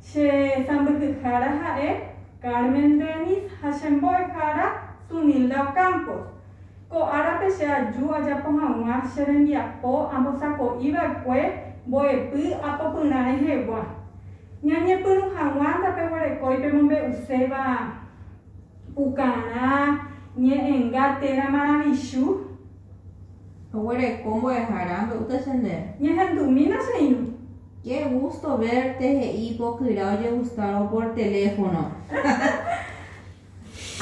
Che sãmbyhyhára ha'e Carmen Dennis ha che mbo'ehára Sunilda Ocampo. Ko árape che aju ajapo hag̃ua che rembiapo ambosako'i va'ekue mbo'epy apopyrã rehegua. Ñañepyrũ hag̃ua ndapeguerekói pemombe'uséva. Pukarã ñe'ẽnga térã maravichu. Oguereko mbo'ehára mbe'úta che ndéve. Ñahendumína che irũ. Qué gusto verte he'i ipokyra ojegustárõ por teléfono.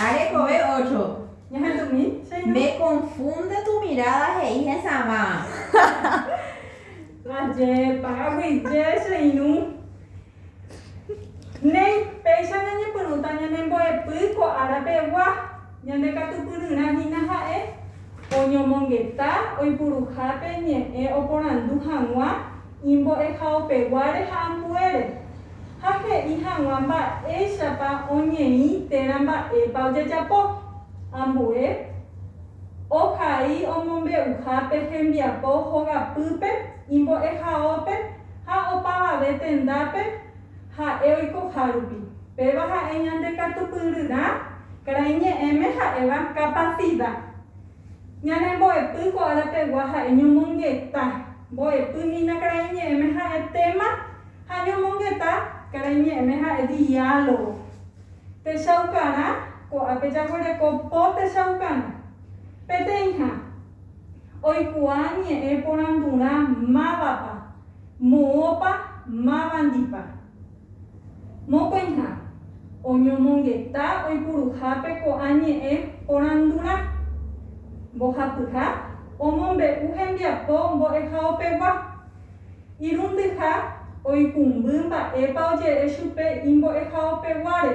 Arekove ocho. Ñahendumi che irũ. Me confunde tu mirada he'i hesãva. Ajépa, aguije che irũ. Néi, péicha ñañepyrũta ñanembo'epy ko ára pegua, ñandekatupyryrã hína ha'e oñomongeta oipuruhápe ñe'ẽ oporandu hag̃ua imbo'ehaopeguáre ha ambuére, ha he'i hag̃ua mba'éichapa oñeĩ térã mba'épa ojajapo, ambue ohai omombe'uha pe hembiapo hogapýpe imbo'ehaópe, Ha opavave tendápe ha'e oikohárupi. Péva ha'e ñande katupyryrã, karai ñe'ẽme ha'éva capacidad. Ñane mbo'epy ko ára pegua ha'e ñomongeta. Mbo'epy hína karai ñe'ẽme ha'e téma ha ñomongeta karai ñe'ẽme ha'e diálogo. Techaukarã, ko'ápe jaguereko po techaukarã. Peteĩha. Oikuaa ñe'ẽ porandurã mávapa, moõpa, mávandipa. Mokõiha, oñomongeta oipuruhápe ko'ã ñe'ẽ porandurã. Mbohapyha omombe'u hembiapo mbo'ehaopegua. Irundyha oikũmby mba'épa oje'e chupe imbo'ehaopeguáre.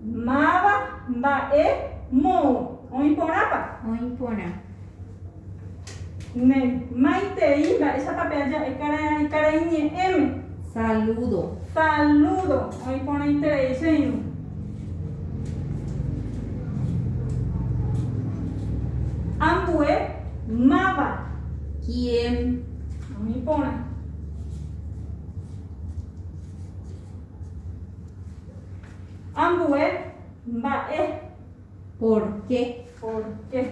Máva mba'e moõ. Oĩ porãpa? Oĩ porã. Ne. Maitei, mba'éichapa pe aja'e karai, karai ñe'ẽme? Saludo. Saludo. Oĩ porãiterei che irũ. Ambue máva? Quién. Oĩ porã. Ambue mba'e. Porke. Porke.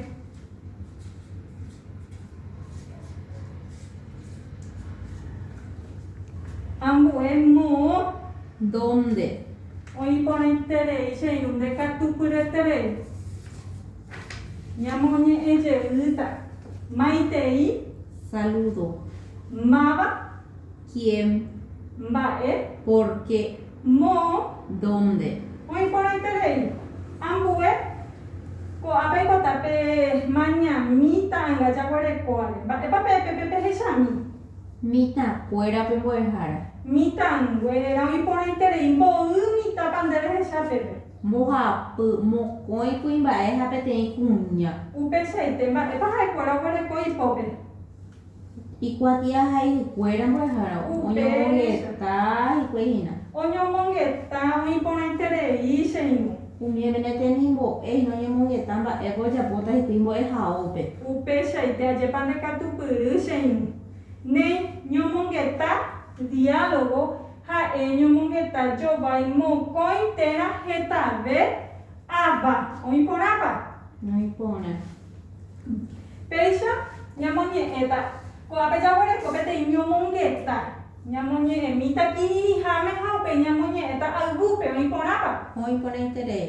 Ambue moõ. Dónde. Oĩ porãiterei che irũ ndekatupyreterei. Ñamoñe'ẽ jeýta. Maitei. Salúdo. Máva. Quién. Mba'e. Por qué. Moõ. Dónde. Oĩ porãiterei. Ambue. Ko'ã peipota pe mañami ta'ãnga jaguerekóare. Mba'épa pe peve pehechami. Mitãkuéra pe mbo'ehára. Mitãnguéra oĩ porãiterei. Mboy mitãpa nde rehecha peve. Mbohapy, mokõi kuimba'e ha peteĩ kuña. Upeichaite. Mba'épa ha'ekuéra oguereko ipópe. Ikuatia ha yvykuéra mbo'ehára oñomongeta hikuái hína. Oñomongeta oĩ porãiterei che irũ. Umi oimérõ temimbo'e hína oñemongeta mba'épa ojapóta hikuái mbo'ehaópe. Upeichaite ajépa ndekatupyry che irũ. Ne ñomongeta diálogo ha'e ñomongeta jovái mokõi térã hetave ava. Oĩ porãpa? Noĩ porã. Péicha ñamoñe'ẽta, ko'ápe jaguereko peteĩ ñomongeta, ñamoñe'ẽmíta kirirĩháme ha upéi ñamoñe'ẽta ayvúpe oĩ porãpa. Oĩ porãiterei.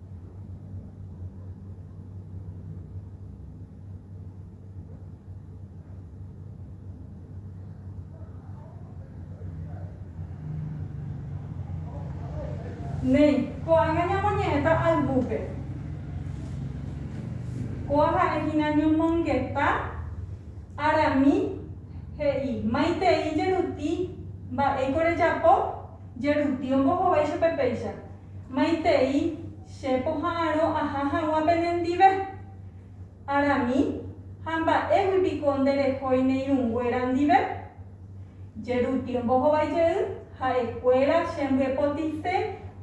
Néi, ko'ág̃a ñamoñe'ẽta albúpe. Kóa ha'e hína ñomongeta Arami he'i, Maitei jeruti, mba'éiko rejapo? Jeruti ombohovái chupe péicha. Maitei che poha'arõ aha hag̃ua penendive? Arami, ha mba'égui piko nde rehói ne irũnguéra ndive? Jeru tiémpo hovái jey, ha'e kuéra che mbyepotise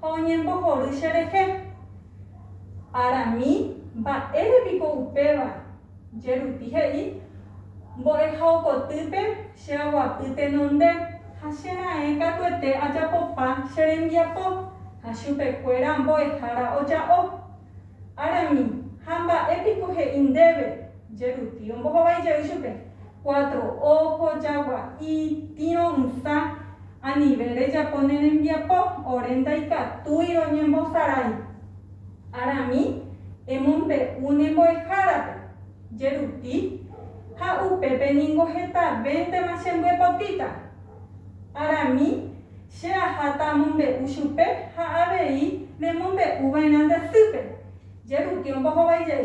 ha oñembohory che rehe. Arami, mba'ére piko upéva? Jeruti he'i, Mbo'eha okotýpe che aguapy tenonde, ha che raẽ katuete ajapopa che rembiapo, ha chupekuéra mbo'ehára oja'o. Arami, ha mba'e piko he'i ndéve? Jeruti ombohovái jey chupe, Cuatro ojo, jagua'i, tĩ ro'ysã, anive rejapo ne rembiapo, ore ndaikatúi roñembosarái. Arami emombe'u ne mbo'ehárape, jeruti, ha upépe ningo hetavéntema chembyepotĩta. Arami che aháta amombe'u chupe ha avei nemombe'u va'erã nde asýpe, jeruti ombohovaijey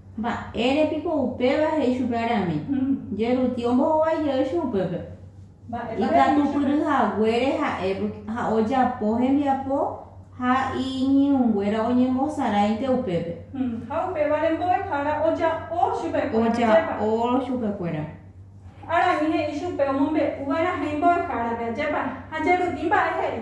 Mba'ére piko upéva he'i chupe arami, Jerutĩ ombohovái jey upépe? Ikatupyry haguére ha'e, ha ojapo hembiapo ha iñirũnguéra oñembosaráinte upépe. Ha upévare mbo'ehára oja'o chupekuéra. Arami he'i chupe omombe'u va'erãha imbo'ehárape, ajépa? Ha Jerutĩ mba'e he'i?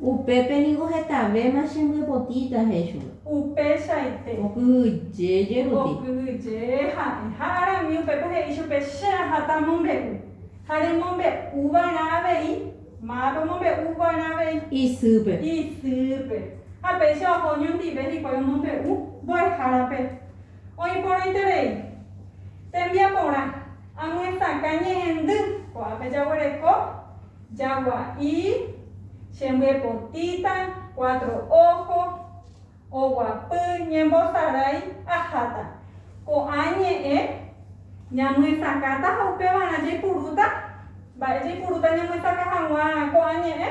Upépe niko hetavéma chembyapotíta, he'i chupe. Upeichaite. Okyhyje jeruti. Okyhyje ha'e. Ha Arami upépe he'i chupe, Che aháta amombe'u. Ha remombe'u va'erã avei. Mápe omombe'u va'erã avei? Isýpe. Isýpe. Ha péicha oho oñondive hikuái omombe'u mbo'ehárape. Oĩ porãiterei. Tembiaporã, amyesakã ñe'ẽndy, ko'ápe jaguereko. Jagua'i, che mbyepotĩta, cuatro ojo, oguapy, ñembosarai, aháta. Ko'ã ñe'ẽ ñamyesakãta ha upévarã jaipurúta. Mba'e jaipurúta ñamyesakã hag̃ua ko'ã ñe'ẽ?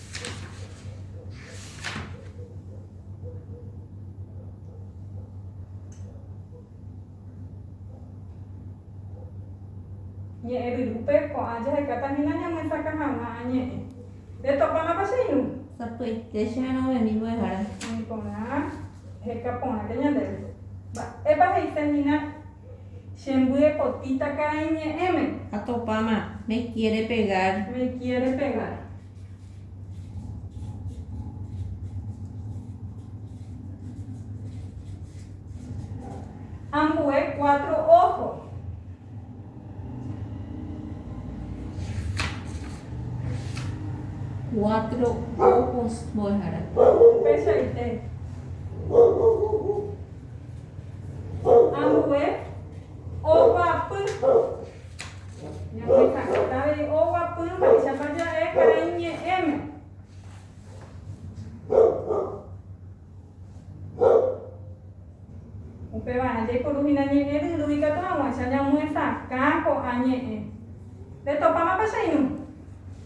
Ñe'ẽryrúpe ko'ã jahekáta hína ñamyesakã hag̃ua añe'ẽ. Retopámapa che irũ? Sapy'aite che vérõ memi mbo'ehára. Ani porã heka porãke ñandéve. Mba'épa he'ise hína? Che mbyepotĩta karai ñe'ẽme. Ha topáma, me quiere pegar. Me quiere pegar. Ambue cuatro ojo. Cuatro ojos mbo'ehára. Upeichaite. Ambue oguapy. Ñamoika'éta avei oguapy mba'éichapa ja'e karai ñe'ẽme. Upeva'erã jaiporuhína ñe'ẽ ryru ikatu hag̃uáicha ñamyesakã ko'ã ñe'ẽ. Retopáma pecheirũ.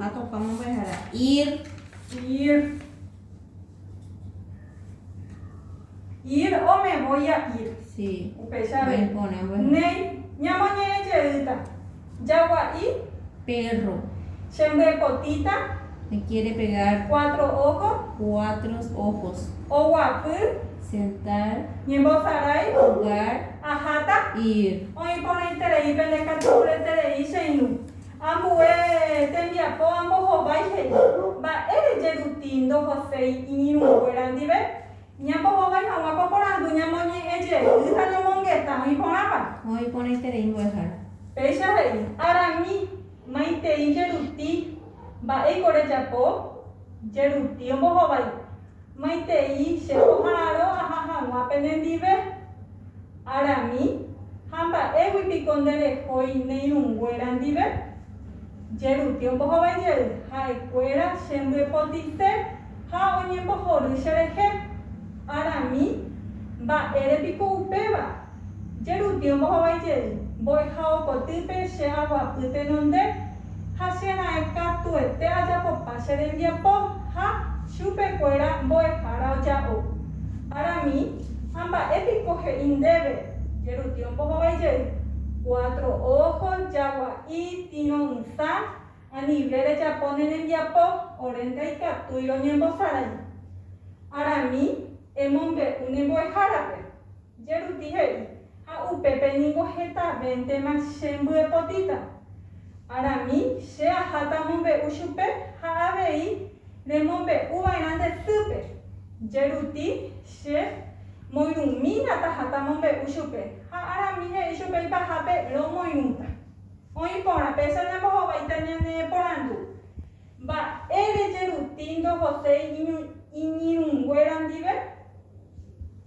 Ha tokã mombyehara, ir. Ir. Ir o me voy a ir. Sí. Upéicha avei. Néi, ñamoñe'ẽ jeýta. Jagua'i. Perro. Che mbyepotĩta. Me quiere pegar. Cuatro ojo. Cuatro ojos. Oguapy. Sentar. Ñembosarái. Jugar. Aháta? Ir. Oĩ porãiterei pene katu reterei che irũ. Ambue tembiapo ambohovái he'i, Mba'e reje ruti ndohoséi iñirũnguéra ndive? Ñambohovái hag̃ua ko porandu ñamoñe'ẽ jey ha ñomongeta oĩ porãva. Oĩ porãiterei mbo'ehára. Péicha he'i, Arami, maitei jeruti. Mba'éiko rejapo? Jeruti ombohovái. Maitei che oha'arõ aha hag̃ua penendive? Arami, ha mba'égui piko nde rehói ne irũnguéra ndive? Jeruti ombohovái jey, ha'ekuéra che mbyepotite ha oñembohory che rehe. Arami, mba'ére piko upéva? Che rupi ombohovái jey, mbo'eha okotýpe che aguapy tenonde, ha che raẽ katuete ajapopa che rembiapo, ha chupe kuéra mbo'ehára oja'o. Para mí, ha mba'e piko he'i ndéve, che rupi ombohovái jey, cuatro ojo, jagua'i, tino ysã, anive rejapo ne rembiapo, ore ndaikatúi roñembosarái. Ara mí, emombe'u ne mbo'ehárape. Jeruti he'i, Ha upépe ningo hetavéntema che mbyepotĩta. Arami che aháta amombe'u chupe ha avei remombe'u va'erã nde sýpe. Jeruti, Che moirũmína taháta amombe'u chupe. Ha Arami he'i chupe ipahápe, Romoirũta. Oĩ porã, péicha ñambohováita ñaneporandu, Mba'ére Jeruti ndohoséi iñirũnguéra ndive?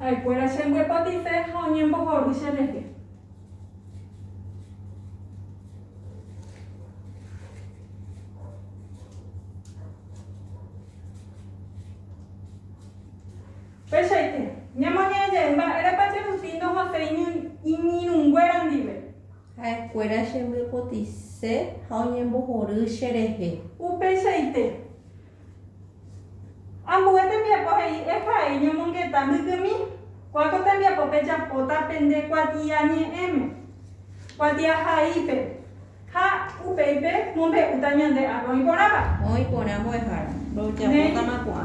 Ha'ekuéra chembyepotite ha oñembohory cherehe. Péichaite, ñamoñe'ẽjey mba'érepa che rupi ndohaséi iñirũnguéra ndive. Ha'ekuéra chembyepotise ha oñembohory cherehe. Upeichaite, ambue tembiapo he'i Efraín ñomongeta mbykymi, kua ko tembiapo pejapóta pende kuatia ñe'ẽme, kuatia haípe, ha upéi pe mombe'úta ñande ápe oĩ porãva. Oĩ porã mbo'ehára, ndojapótama ko'ã.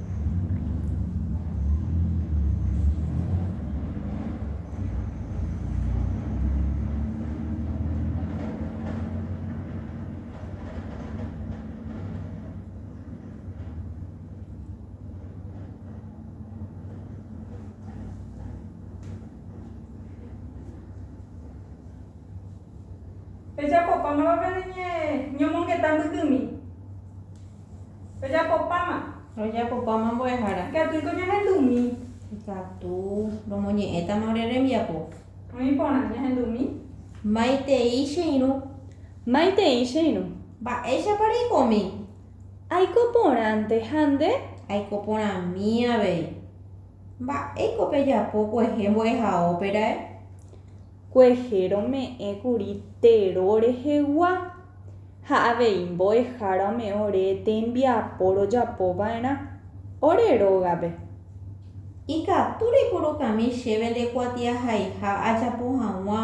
Pejapópa mávapa ne ñomongeta mbykymi. Rojapopáma. Rojapopáma mbo'ehára. Ikatúiko ñahendumi. Ikatu romoñe'ẽtama ore rembiapo. Oĩ porã ñahendumi. Maitei che irũ. Maitei che irũ. Mba'éichapa reikomi. Aiko porãnte ha nde. Aiko porãmi avei. Mba'éiko pejapo kuehe mbo'ehaóperae? Kuehe rome'ẽ kuri tero rehegua. ha avei mbo'ehára ome'ẽ ore tembiapo rojapo va'erã ore rógape. Ikatu rekurukami chéve nde kuatiahaiha ajapo hag̃ua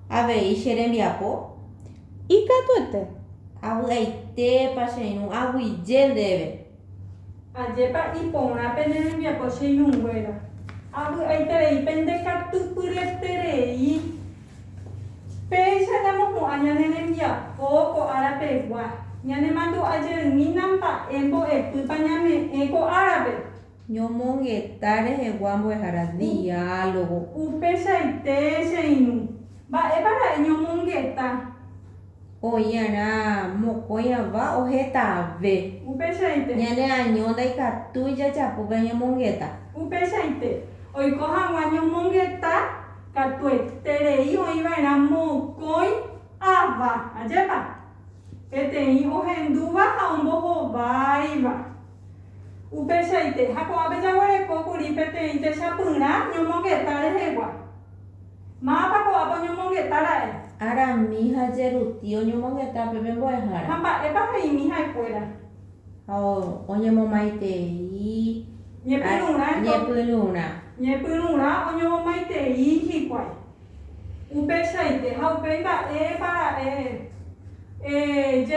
avei che rembiapo? Ikatuete. Avy'aitépa che irũ aguyje ndéve? Ajépa iporã pene rembiapo che irũnguéra? Avy'aiterei pende katupyryeterei? Péicha ñamopu'ã ñane rembiapo ko ára pegua, ñanemandu'a jeymína mba'e mbo'epýpa ñame'ẽ ko árape. Ñomongeta rehegua mbo'ehára diálogo. Upeichaite che irũ. Mba'épa ra'e ñomongeta? Oĩ'arã mokõi ãva ohetãve. Upeichaite. Ñane año ndaikatúi jajapópe ñomongeta. Upeichaite. Oiko hag̃ua ñomongeta katueterei oĩva'erã mokõi ãva. Ajépa? Peteĩ ohendúva ha ombohováiva. Upeichaite. Ha ko'ãpe jaguerekókuri peteĩ techapyrã ñomongeta rehegua. Mávapa ko'ápe oñomongeta ra'e? Ára mi ha Jeruti oñomongeta pe pembo'ehára. Ha mba'épa he'imi ha'ekuéra? Ha oñemomaitei Ñepyrũrã eto. Ñepyrũrã. Ñepyrũrã oñomomaitei hikuái. Upeichaite ha upéi mba'épa ra'e? Eh,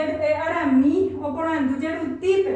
Ára mi oporandu Jerutípe.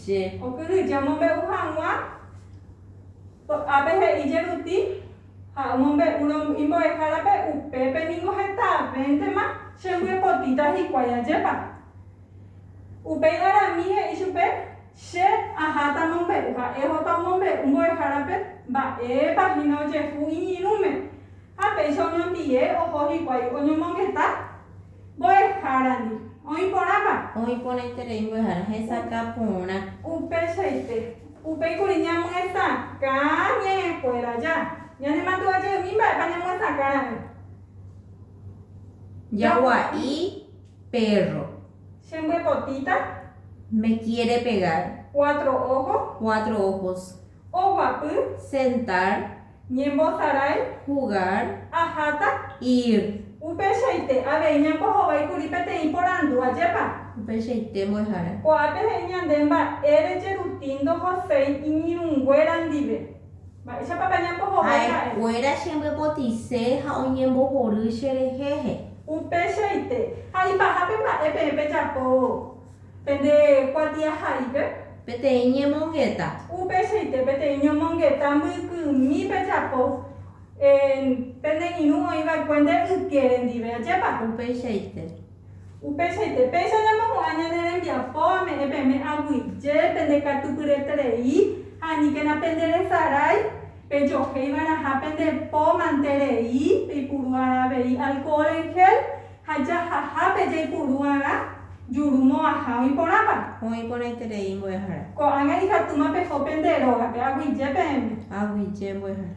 Che okyhyje omombe'u hag̃ua ko'ápe he'i jeruti ha omombe'úrõ imbo'ehárape, upépe ningo hetavéntema chembyepotĩta hikuái ajépa. Upéi Arami he'i chupe, Che aháta amombe'u ha ehóta omombe'u mbo'ehárape mba'épa hína ojehu iñirũme. Ha péicha oñondive oho hikuái oñomongeta Mbo'ehárandi. Oĩ porãpa? Oĩ porãiterei mbo'ehára. Hesakã porã. Upeichaite. Upéi kuri ñamyesakã ñe'ẽkuéra aja. Ñanemandu'ajeými mba'épa ñamyesakã ra'e. Jagua'i pérro. Che mbyepotĩta. Me kiere pegar. Cuatro ojos. Cuatro ojos. Oguapy. Sentar. Ñembosarái. Jugar. Aháta. Ir. Upeichaite avei ñambohovái kuri peteĩ porandu, Ajépa? Upeichaite mbo'ehára. Ko'ápe he'i ñande mba'ére jeruti ndohoséi iñirũnguéra ndive. Mba'éichapapa ñambohovái ha'e? Ha'ekuéra chembyapotice ha oñembohory cherehe. Upeichaite. Ha ipahápe mba'e peẽ pejapóvo. Pende kuatiahaípe. Peteĩ ñemongeta. Upeichaite peteĩ ñomongeta mbykymi pejapo en pende irũ oĩva'ekue nde ytiére ndive. Ajépa? Upeichaite. Upeichaite. Péicha ñamohu'ã ñane rembiapo ame'ẽ peẽme aguyje, pende katupyreterei ha aníkena pende resarái, pejohéi va'erãha pende po mante rei, peipuru arã avei alcohol en gel, Ha jahahápe jaipuru'arã juru mo'ãha oĩ porãpa? Oĩ porãiterei mbo'ehára. Ko'ág̃a ikatúma peho pende rógape, aguyje peẽme. Aguyje mbo'ehára.